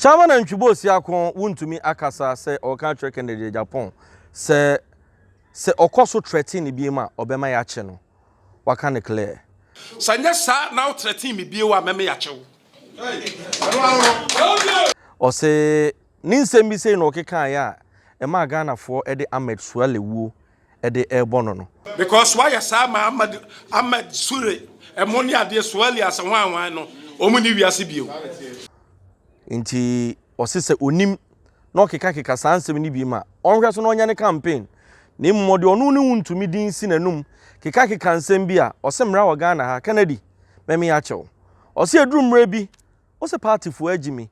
Kyama nantwi bɔ ɔsi ako wontumi akasa sɛ ɔreka akyerɛ Kennedy Agyapong sɛ sɛ ɔkɔ so trɛten no biom a ɔbɛma yakye no waka no clear. Sɛ nyɛ saa na wo trɛten me bio a mɛma yakye wo. Ɔse ne nsɛm bi sei na ɔkekaeɛ a ɛmaa Ghanafoɔ de Ahmed Suale wuo de rebɔ no no. Because wayɛ saa ma Ahmad Ahmed Sure ɛmo ne adeɛ Sualias hwan hwan no wɔn nni wiase bio. Nti ɔse sɛ onim na ɔkeka keka saa nsɛm no bi ma ɔnhwɛ so na ɔnyɛ ne campaign na mmom ɔde ɔno ne wo ntumi din si n'anum keka keka nsɛm bi a ɔse mmra wɔ Ghana ha Kennedy mɛme akyɛw ɔse ɛduru mmerɛ bi Wo sɛ party foɔ agyi me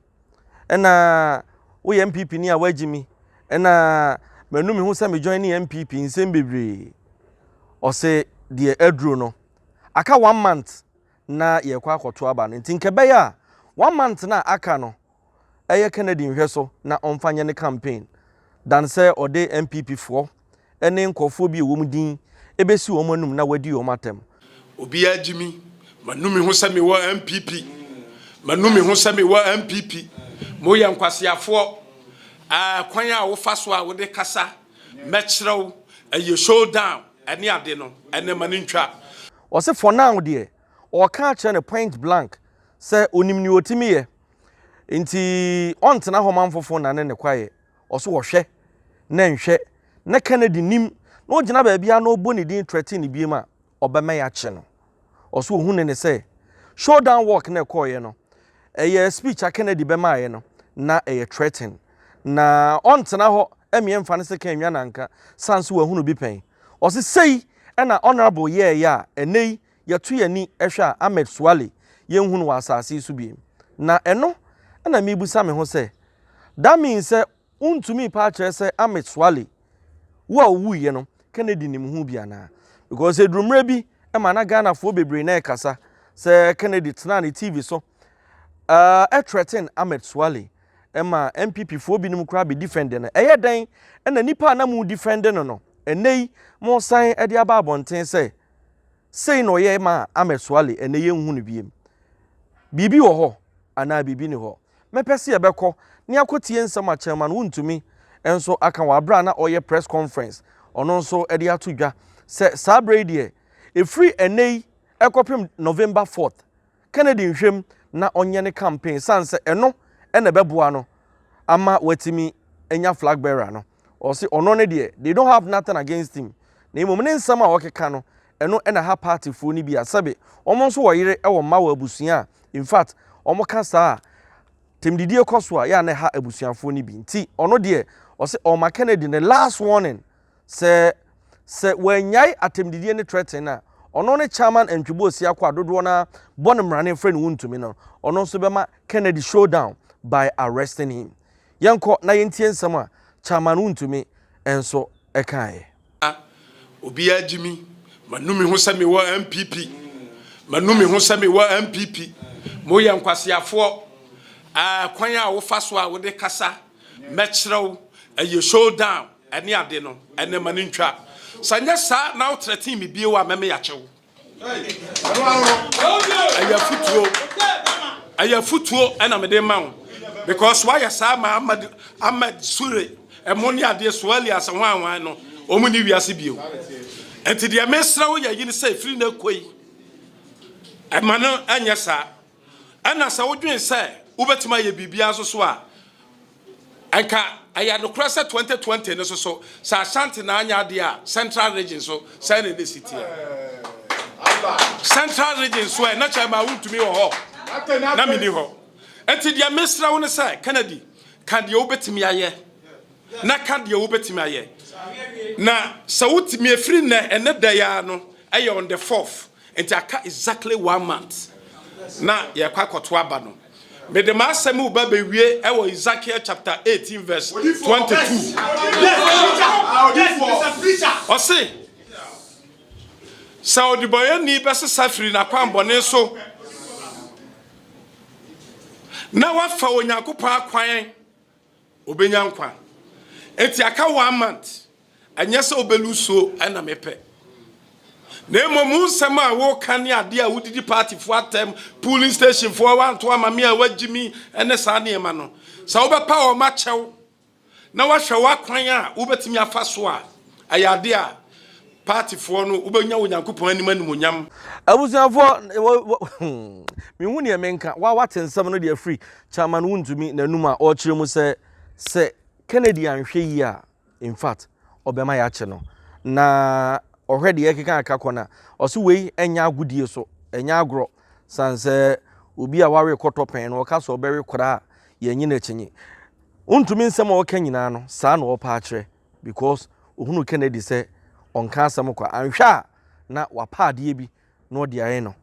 ɛna wo yɛ NPP ni a wagyi me ɛna manu me ho sɛ me join ne NPP nsɛm bebree ɔse deɛ aduro no aka one month na yɛkɔ akɔto aba no nti nka ɛbɛyɛ a one month na aka no ɛyɛ Kennedy nhwɛ so na ɔmfa nyɛ ne campaign dan sɛ ɔde NPP foɔ ne nkurɔfoɔ bi a wɔn din bɛsi wɔn anom na wɔadi wɔn atɛm. Obiara gye me, manu me ho sɛ mewɔ NPP, manu me ho sɛ mewɔ NPP, moyɛ nkwaseafoɔ, ɛɛ kwan a wofa so a wode kasa, mɛkyerɛ wo, ɛyɛ show down ɛne ade no, ɛnɛ ma no ntwa. Ɔse for now deɛ, ɔɔka akyerɛ no point blank sɛ onim nea otumi yɛ, nti ɔntena hɔ ma nfofo nnane ne kwaeɛ. ɔso wɔhwɛ na ɛnhwɛ na Kennedy nim na ɔgyina baabiara na ɔbɔ ne din threaten no biem a, ɔbɛma yɛakye no. Ɔso ɔhu ne ne sɛ showdown walk na ɛkɔɔeɛ no, ɛyɛ speech a Kennedy bɛmaeɛ no, na ɛyɛ threaten. Na ɔntena hɔ mmea mfa ne sekan nnwa nanka, sane so wahunu bi pɛn. Ɔse sei na Honourable yɛɛeɛ a ɛnnɛ yi yɛto yɛn ani hwɛ a, Ahmed Suale, yenhu no wɔ asase yi so bio. Na ɛno na mibisa me ho sɛ, That means sɛ wontumi paa kyerɛ sɛ Ahmed Suale wu a owuiɛ no, Kennedy nim ho bi anaa? Because eduru mmerɛ bi ma na Ghanafoɔ bebree na ɛkasa sɛ Kennedy tenaa ne TV so uh, threaten Ahmed Suale ma NPP foɔ binom koraa bɛ defend no. Ɛyɛ dɛn na nipa a na mo defend no no, ɛnɛ yi mo san de aba abɔnten sɛ Sei na ɔyɛe maa Ahmed Suale, ɛnnɛ yɛnhu no biem. Biribi wɔ hɔ anaa biribi nni hɔ? Mɛpɛ sɛ yɛbɛkɔ na yɛakɔtie nsɛm a Chairman Wontumi nso aka wɔ aberɛ a na ɔreyɛ press conference, ɔno nso de ato dwa sɛ saa berɛ yi deɛ, ɛfiri ɛnnɛ yi kɔpem November fourth, Kennedy nhwɛ mu na ɔnyɛ ne campaign esiane sɛ ɛno na ɛbɛboa no ama watumi anya flag bearer no. Ɔse ɔno no deɛ they don't have nothing against him na mmom ne nsɛm a ɔkeka no ɛno na ɛha party foɔ no bi a sɛbe wɔn nso wɔ yere wɔ mma wɔ abusua a infact wɔn ka saa a temdidie kɔ so a yɛ a na ɛha abusuafoɔ no bi nti ɔno deɛ ɔse ɔma Kennedy ne last warning Sɛ sɛ wɔannyae atɛmdidie ne trɛten no a, ɔno ne Chairman and Tweboɔ Siako a dodoɔ no ara bɔ no mmara no mfrɛ no wontumi no, ɔno nso bɛma Kennedy showdown by arresting him. Yɛnkɔ na yɛntie nsɛm a Chairman Wontumi nso kaeɛ. A, obiara gye me. Manu me ho sɛ mewɔ NPP. Manu me ho sɛ mewɔ NPP. Moyɛ nkwaseafoɔ. A, kwan a wofa so a wode kasa, mɛkyerɛ wo, ɛyɛ showdown. Ɛne ade no, ɛnɛ ma no ntwa. Sɛ anyɛ saa na wotrɛtee me bio a, mɛme akye wo. Ɛyɛ afutuo, ɛyɛ afutuo ɛna mede ma wo. Because woayɛ saa ma Ahmed, Ahmed Sure, ɛmo ne adeɛ, Suali ase hwan hwan no, wɔn ni wiase bio. Nti deɛ mesrɛ wo yɛ yi ne sɛ, firi na koi, ɛma no ɛnyɛ saa. Ɛna sɛ wodwen sɛ wobɛtumi ayɛ biribiara nso so a, Anka ɛyɛ nokorɛ sɛ 2020 no so so sɛ Ashanti na anyɛ adeɛ a Central Region so sɛn na ɛnɛsi teɛ? Central Region so ɛ na kyɛ ma wontumi wɔ hɔ na menni hɔ. Nti deɛ mesrɛ wo no sɛ Kennedy ka deɛ wobɛtumi ayɛ na ka deɛ wobɛtumi ayɛ na sɛ wotumi ɛfiri nnɛ ɛnɛ da yi ara no ɛyɛ on the fourth Nti aka exactly one month na yɛkɔ akɔto aba no. Mede m'asɛm reba bɛwie wɔ Ezekiel chapter 18 verse 22. Ɔse, sɛ ɔdebɔyɛni bɛsesa firi n'akwammɔne so na wafa Onyankopɔn akwan Obenya nkwa. Enti aka one month, ɛnyɛ sɛ wobɛlusuo na mepɛ. Na mmom wo nsɛm a woka ne adeɛ a wodidi partyfoɔ atɛm, polling stationfoɔ a woanto ama me a woagye mi ne saa nneɛma no, sɛ wobɛpa wɔn akyɛw na woahwɛ w'akwan a wobɛtumi afa so a, ɛyɛ adeɛ a Partfoɔ no, wobɛnya Onyankopɔn anim animuonyam. Abusuafoɔ, wɔ, wɔ, hmm, menhu neɛ menka. Wa, wate nsɛm no deɛ firi Chairman Wontumi n'anum a ɔrekyerɛ mu sɛ, sɛ Kennedy anhwɛ yie a, in fact, ɔbɛma yɛakye no. Na ɔhwɛ deɛ ɛkeka aka kɔ no a, ɔse wei ɛnyɛ agodie so, ɛnyɛ agorɔ. Sane sɛ obi a wawe kɔtɔ pɛn no, ɔka sɛ ɔbɛwe koraa a, yɛnnye no akyinnye. Wontumi nsɛm a ɔreka nyinaa no, saa na ɔrepɛ akyerɛ. Because ohunu Kennedy sɛ ɔnka asɛm kwa. Anhwɛ a na wapa adeɛ bi na ɔde ayɛ no.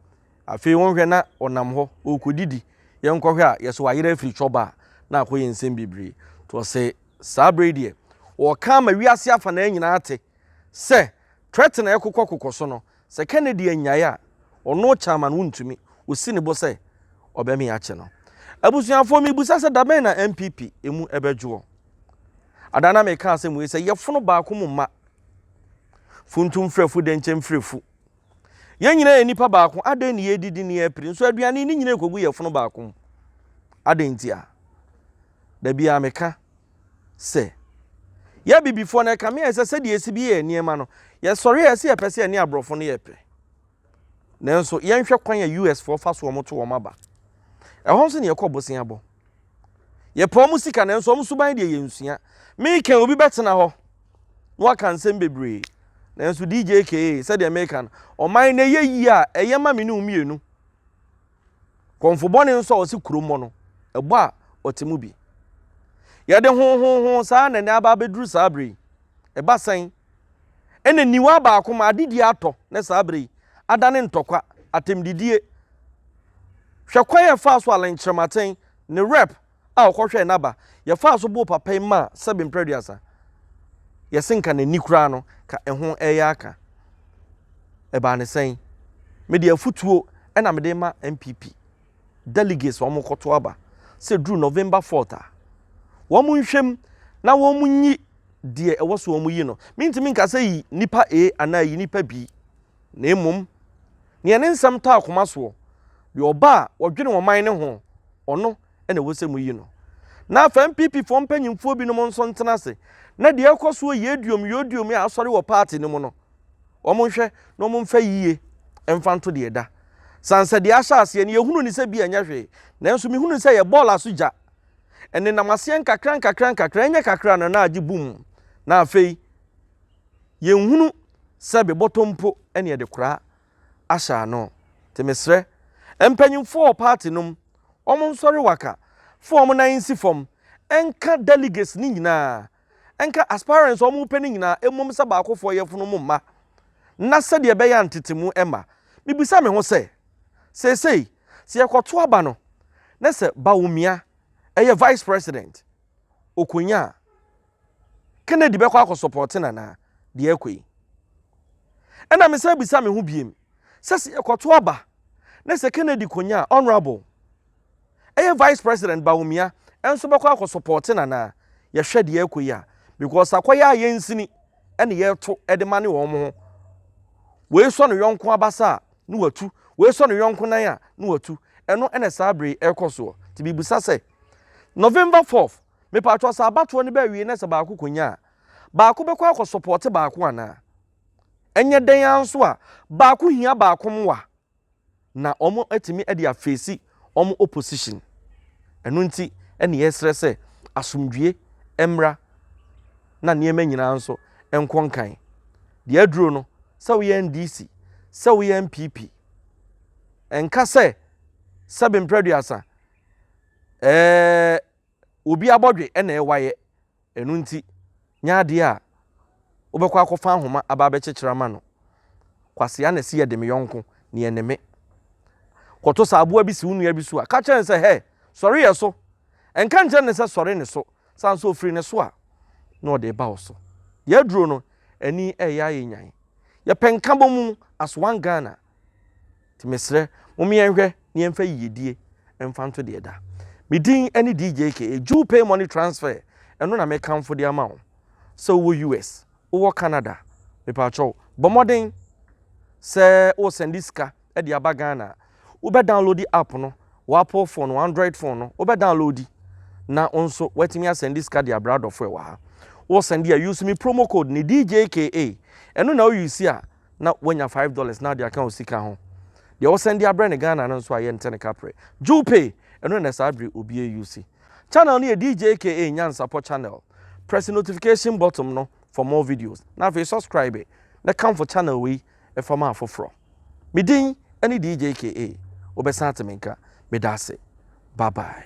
Afei wonhwɛ na ɔnam hɔ ɔrekɔdidi. Yɛnkɔhwɛ a yɛse wayera afiri cɔba a na akɔyɛ nsɛm bebree. Nti ɔse saa berɛ yi deɛ ɔreka ama wiase afanaa nyinaa ate sɛ threat na ɛrekokɔ kokɔ so no Sɛ Kennedy annyae a, ɔno Chairman wontumi, osi ne bo sɛ ɔbɛme akye no. Abusuafoɔ mebisa sɛ dabɛn na NPP emu ɛbɛdwoɔ? Ada na meka asɛm wei sɛ yɛfono baako mu mma. Funtum mfiri afu dɛnkyɛ mfiri afu. Yɛn nyinaa yɛ nipa baako adɛn ne yɛredidi ne yɛrepire nso aduane ne nyinaa ɛkɔgu yɛfono baako mu? Adɛn ntia? Dabiaa meka. sɛ, Yɛ Abibifoɔ no ɛkame ayɛ sɛ sɛdeɛ yɛsi bi yɛ yɛn nneɛma no, yɛsɔre a ɛsɛ yɛpɛ sɛ yɛne aborɔfo no yɛ pɛ. Nanso yɛnhwɛ kwan a US foɔ fa so wɔn to wɔn aba. Ɛhɔ nso na yɛkɔ bosea bɔ. Yɛpɛ wɔn sika nanso wɔn suban deɛ yɛnsua. Meka obi bɛtena hɔ na waka nsɛm bebree. Nanso DJ KA sɛdeɛ meka no, ɔman no ɛyɛ yie a ɛyɛ ma me ne wo mmienu. Kɔmfo bɔne nso a ɔse kuro mmɔ no, ɛbɔ a ɔte mu bi. Yɛde hohoho saa na ɛnɛ aba abɛduru saa berɛ yi. Ɛba sɛn? Ɛna nniwa baako ma adedie atɔ ne saa berɛ yi adane ntɔkwa, atɛmdidie. Hwɛ kwan a ɛfaa so a lɛnkyerɛmatɛn ne rape a ɔkɔhwɛɛ n'aba, yɛfaa so bɔɔ papa yi maa sɛbe mprɛduasa. Yɛse nka n'ani koraa no, ka ɛho ɛyɛ aka. Ɛbaa ne sɛn? Mede afutuo na mede rema NPP delegates a wɔkɔto aba sɛ duru November fourth a, wɔnhwɛ mu na wɔnyi deɛ ɛwɔ so wɔyi no. Mentumi nka sɛ yi nipa A anaa yi nipa B. Na mmom, nea ne nsɛm taa koma soɔ, deɛ ɔba a wɔdwene ɔman no ho, ɔno na ɛwɔ sɛ moyi no. Na afei NPPfoɔ mpanyimfoɔ binom nso ntena ase na deɛ ɛrekɔ soɔ yi aduom yi oduom yi a asɔre wɔ party no mu no, wɔnhwɛ na wɔmfa yie mfa nto deɛ ɛda. Sane sɛ deɛ ahyɛ aseɛ no yɛhunu no sɛ bi a ɛnyɛ hwee, nanso mehunu no sɛ ɛyɛ bɔɔl aso gya. Ɛnenam aseɛ nkakra nkakra nkakra, ɛnyɛ kakra no na agye bum, na afei, Yɛnhunu sɛbe bɔtɔ mpo ne yɛde koraa ahyɛ ano. Nti mesrɛ mpanyimfoɔ wɔ party nom wɔn nsɔre waka fa wɔn nan nsi fam nka delegates no nyinaa nka aspirants a wɔpɛ no nyinaa mmom sɛ baakofoɔ yɛfono mo mma na sɛdeɛ ɛbɛyɛ a ntetemu mma. Mebisa me ho sɛ, seesei sɛ yɛkɔto aba no na sɛ Bawumia yɛ vice president, ɔkɔnya a, Kennedy bɛkɔ akɔ sɔpɔɔte no anaa? Deɛ ɛrekɔ yi. Ɛna mesan bisa me ho biem sɛ sɛ yɛkɔto aba na sɛ Kennedy kɔnya a, Honourable, ɛyɛ Vice President Bawumia nso bɛkɔ akɔ sɔpɔɔte no anaa? Yɛhwɛ deɛ ɛrekɔ yi a, because akɔyɛ a yɛnsini ɛna yɛreto ɛde ma ne wɔn ho. Wei sɔ ne yɔnko abasa a, ne watu. Wei sɔ ne yɔnko nan a, ne watu. Ɛno ɛna saa bere yi ɛrekɔ soɔ. Nti mebisa sɛ, November 4th, Mepaatwɔ sɛ abatoɔ no bɛ awie na sɛ baako kɔ nya a baako bɛkɔ akɔ sɔpɔɔte baako anaa? Ɛnyɛ dɛn ara nso a baako hia baako moa na wɔn atumi ɛde afeesi wɔn opposition. Ɛno nti ɛne yɛsrɛ sɛ asomdwie ɛmmra na nneɛma nyinaa nso ɛnkɔ nkan. Deɛ aduro no sɛ woyɛ NDC sɛ woyɛ NPP ɛnka sɛ sɛbe mprɛduasa ɛɛ. obi abɔdwe na ɛwayɛ, ɛno nti nyɛ adeɛ a wobɛkɔ akɔfa ahoma aba abɛkyekyere ama no. Kwasea na ɛsi yɛ de me yɔnko, ne yɛ ne me. Kɔto sɛ aboa bi si wo nua bi so a, ka kyerɛ no sɛ, hɛ, sɔre yɛ so. Ɛnka nkyerɛ no sɛ sɔre ne so, sane sɛ ɔfiri ne so a, na ɔde reba wo so. Deɛ aduro no, ani reyɛ ayɛ nyan. Yɛpɛ nkabɔmu as one Ghana. Nti mesrɛ mom yɛnhwɛ na yɛmfa yiyedie mfa nto deɛ ɛda. Me din ne DJK, Jew Pay Money Transfer, ɛno na mekamfo de ama wo. Sɛ wowɔ US, wowɔ Canada, mepaakyɛw bɔ mmɔden sɛ wo sɛnde sika de aba Ghana a, wobɛ downloadi app no wɔ Apple phone, wɔ Android phone no, wobɛ downloadi na wo nso woatumi asɛnde sika de abrɛ adɔfo ɛwɔ ha. Wo sɛnde a, use me promo code ne DJKA, ɛno na wo use a, na wanya five dollars na ɔde aka osika ho. Deɛ ɔsan de abrɛ no Ghana no nso a yɛnte ne kaprɛ. Jupe! Ɛno na saa bere obi reuse. Channel no yɛ DJ aka Nyansapɔ channel. Press notification bottom no for more videos na afei subscribe na kamfo channel wei fa ma afoforɔ. Me din ne DJ aka. Wobɛsan ate me nka. Meda ase. Bye bye.